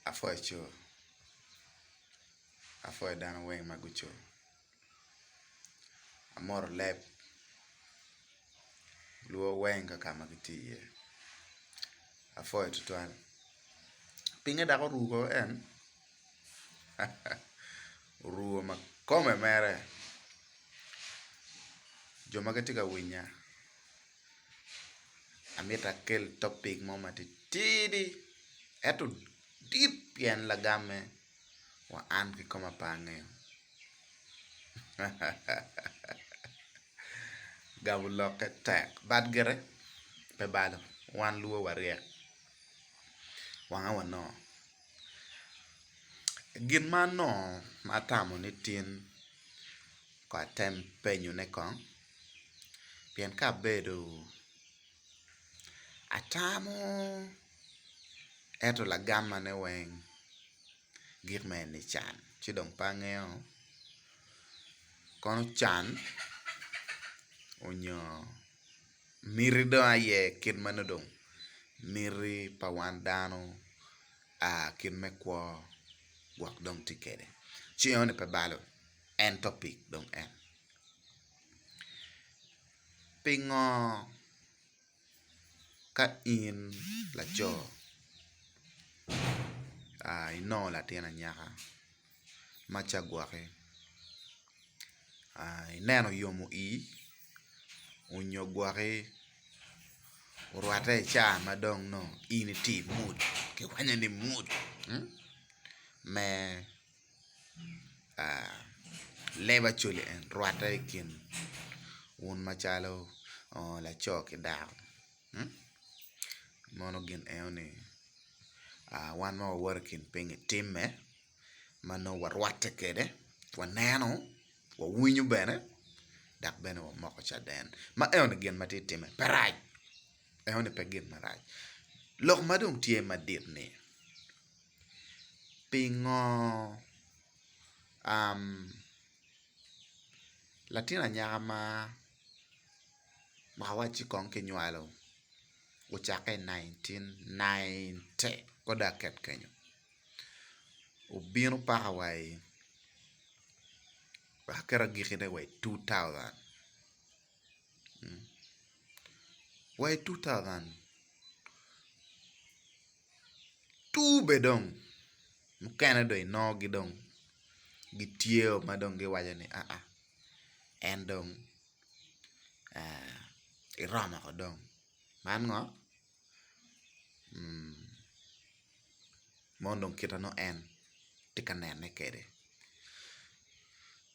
Apwoyo co, apwoyo dano weng ma guco, amoto leb luwo weng kaka ma gitye iye, apwoyo tutwal, pinge dok oruko en haa oruko ma kome mere jo ma gitye ka winya. amito akel topic mo matitidi ento dit pien lagamme wa an kikome pe angeyo gamo lokke tek but gire pe balo wan lubo waryek wanga wanongo gin ma anongo ma atamo ni tin ko atem penyone kong pien ka abedo atamo ento lagamane weng gik ma en-ni can ci dong pe angeo kono can onyo miti dong aye kit ma nongo dong miti pa wan dano kit me kwo gwok dong tye kede ci enoni pe balo en topic dong en. Pingo ka in laco inongo latin anyaka ma ca gwoki ineno yomo ii onyo gwoki orwate i ca ma dong nongo in iti mood ki kwanyo ni mood me leb Acholi en rwatte i kin un macalo laco ki dako mono gin eno ni wan ma wawoto i kin pinyi timme ma nongo warwatte kwede waneno wawinyo bene dok bene wamoko caden ma eno ni gin ma tye ka timme pe rac eno ni pe gin marac lok ma dong tye madit ni Pingo latin anyaka ma awaci kong ki nywalo ocakke i nineteen ninety ko dok ket kenyo obino paka wa i wek aket agiki ne wa i two thousand wa i two thousand tur bene dong mukene dong inongo gi dong gitye o ma dong giwaco ni aa en dong eromo ko dong man ngo mon dong kita nongo en tye ka nene kwede.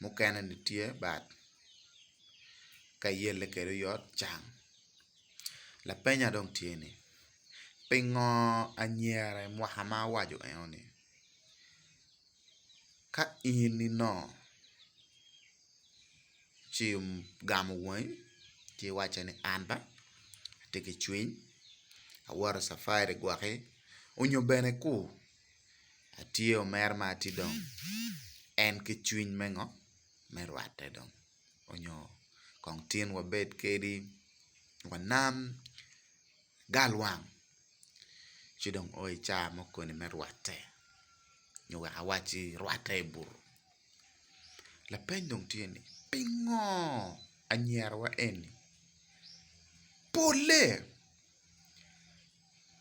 mukene ni tye bad ka iyelle kwede oyot can lapenya dong tye ni pingo anyira i mwaka ma awaco eno ni ka in inongo ci igamo wangi ci iwace ni an ba atye ki cwiny awoto i cafari gwok ki onyo bene kur atye omer ma atye dong en ki cwiny me ngo me rwate dong onyo kong tin wabed kadi wanam galwang ci dong oo ica mo koni me rwate nyo wek awaci rwate i butu lapeny dong tye ni pingo anyira wa eni pole.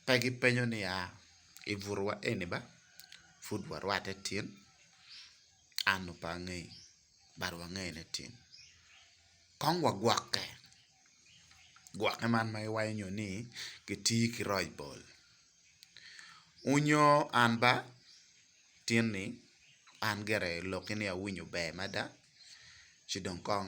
Pe gipenyo niya, I butowa eni ba, pud warwatte tin? Annu pe angeyi, bad wangeyo ni tin. Kong wagwokke. Gwokke man ma giwaco nyo ni gitiyo ki roc bol. Wunyo an ba, tin-ni, an gire lokki ni awinyo ber mada, ci dong kong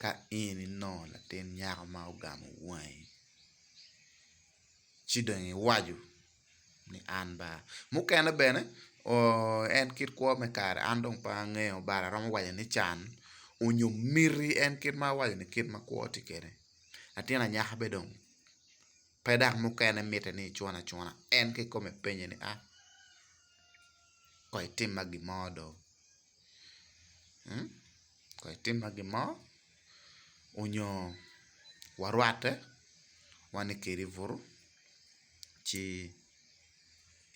Ka in inongo latin nyako ma ogamo wangi ci dong iwaco ni an ba mukene bene en kit kwo me kare an dong pe angeyo but aromo waco ni can onyo miti en kit ma awaco ni kit ma kwo tye kwede latin anyaka bene dong pe dok mukene mitte ni icun acuna en kong ikome penye ni a kong itimma gin mo do. kong etimma gin mo onyo warwatte wane kedi buto ci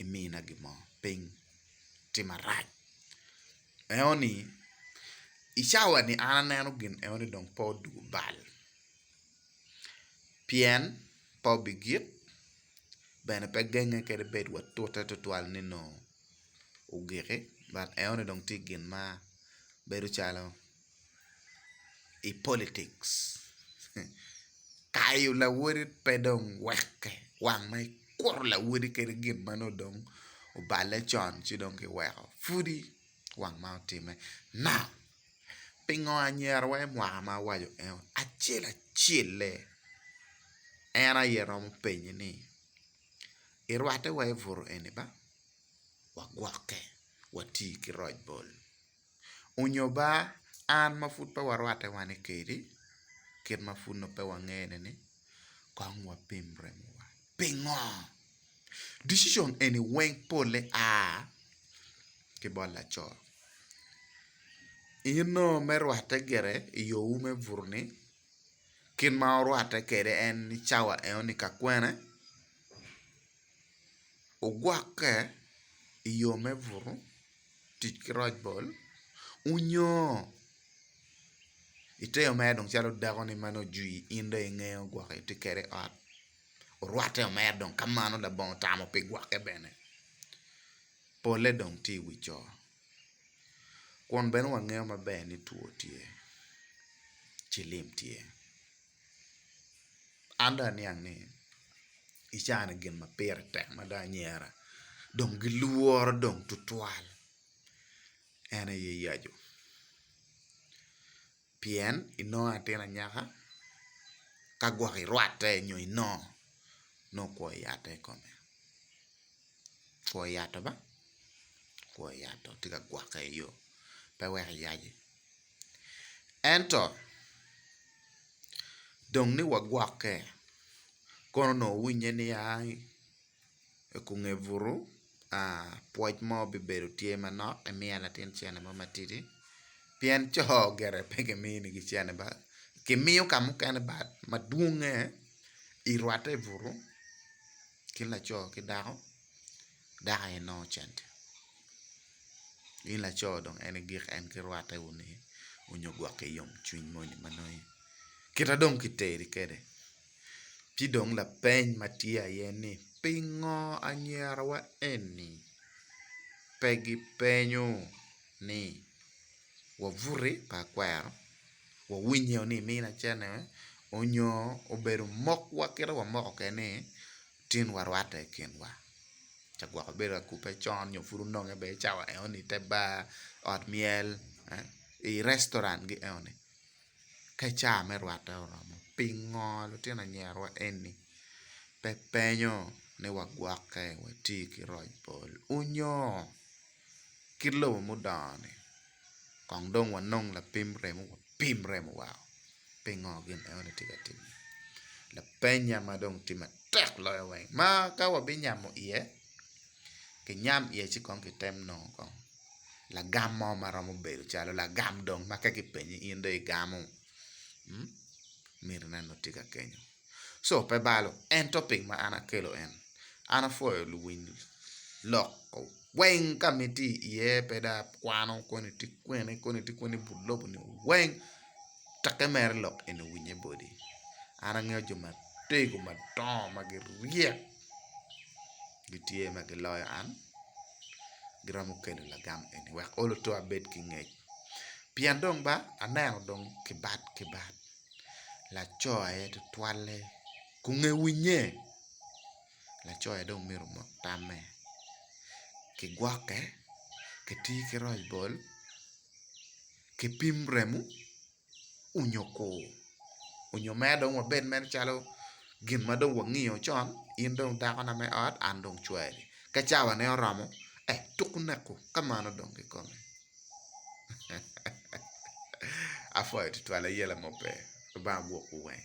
imina gin mo ping timma rac eno ni i cawa ni an aneno gin eno ni dong pe odwogo bal pien pe obigik bene pe genge kadi bed wa tute tutwal ni nongo ogiki but enoni dong tye gin ma bedo calo i politics kayo lawoti pe dong weke wang ma ikuto lawoti kadi gin ma nongo dong oballe con ci dong kiweko pudi wang ma otimme now pingo anyira wa imwaka ma awaco eno acel acelle en aye romo penyi ni irwate wa ibutu eni ba? wagwokke wati ki roc bol onyo ba an ma pud pe warwatte wani kedi kit ma pud nongo pe wangene ni kong wapim remowa pingo? Dicicion eni weng pole a ki bot laco in nongo me rwatte gire i yo wu me buto ni kit ma wurwatte kede en ni cawa eno ni ka kwene ogwokke i yo me buto tic ki roc bol onyo ite yo mere dong calo dako ni ma nongo ojwi in dong inge ogwokke iti kede i ot orwate o mere dong ka mano labongo otamo pi gwokke bene pole dong tye i wi co kun bene wangeyo maber ni two tye ci lim tye An dong aniang ni i caa ni gin ma pire tek mada anyera dong gilworo dong tutwal en aye yacu pien inongo atin anyaka ka gwok irwatte nyo inongo nongo kwo i yatte i kome kwo i yato ba kwo i yato tye ka gwokke iyo pe wek iyaci. Ento, dong ni wagwokke, kono onongo owinye ni ai i kunge butu, pwoc mo bibedo tye manok emiya latin cene mo matidi pien co gire pe giminigi cene ba, gimiyo ka mukene bat madwongnge irwatte i butu kin laco ki dako. Dako aye nongo cente. In laco dong en i gik en ki rwatte wunu iye onyo gwokke yomcwiny moni ma nongo iye. Kita dong kiteri kwede, ci dong lapeny ma tye aye ni pingo anyirawa eni pe gipenyo ni wabuti pa akwero, wawiny iye ni iminacene onyo obedo mokwa kit ma wamoko kwede-ni? tin warwatte i kinwa ca gwok ibedo ka kubbe con nyo pud ononge bene cawa enoni i te bar, ot myel, i restaurant gi enoni ka ca me rwatte oromo pingo lutino anyirawa eni pe penyo ni wagwokke wati ki roc bol onyo Kit lobo mudongo-ni, kong dong wanong lapim remo, wapim remo wa pingo gin enoni tye ka timme. Lapenya ma dong tye matek loyo weng ma ka wabinyamo iye, kinyam iye ci kong kitem nongo kong lagam mo ma romo bedo calo lagam dong ma ka kipenyi in dong igamo? Minne nongo tye ka kenyo. Co pe balo, ento ping ma an akelo en, an apwoyo luwiny lok weng ka ma itye iye pe dong akwano koni tye kwene koni tye kwene ibut lobo ni weng tek imere lok eni owinye boti, an angeyo jo matego madongo ma giryek gitye ma giloyo an giromo kelo lagam eni wek olo to abed ki ngec pien dong ba aneno dong kibat kibat. laco aye tutwalle kong ewinye laco aye dong myero omok tamme kigwoke kitir ki roc bol kipim remo onyo kur onyo mere dong wabed mere calo gin ma dong wangiyo con in dong dakona me ot an dong cwari ka cawa ne oromo tuku neko ka mano dong kikome. Apwoyo tutwal aye lamope lubanga gwokwu weng.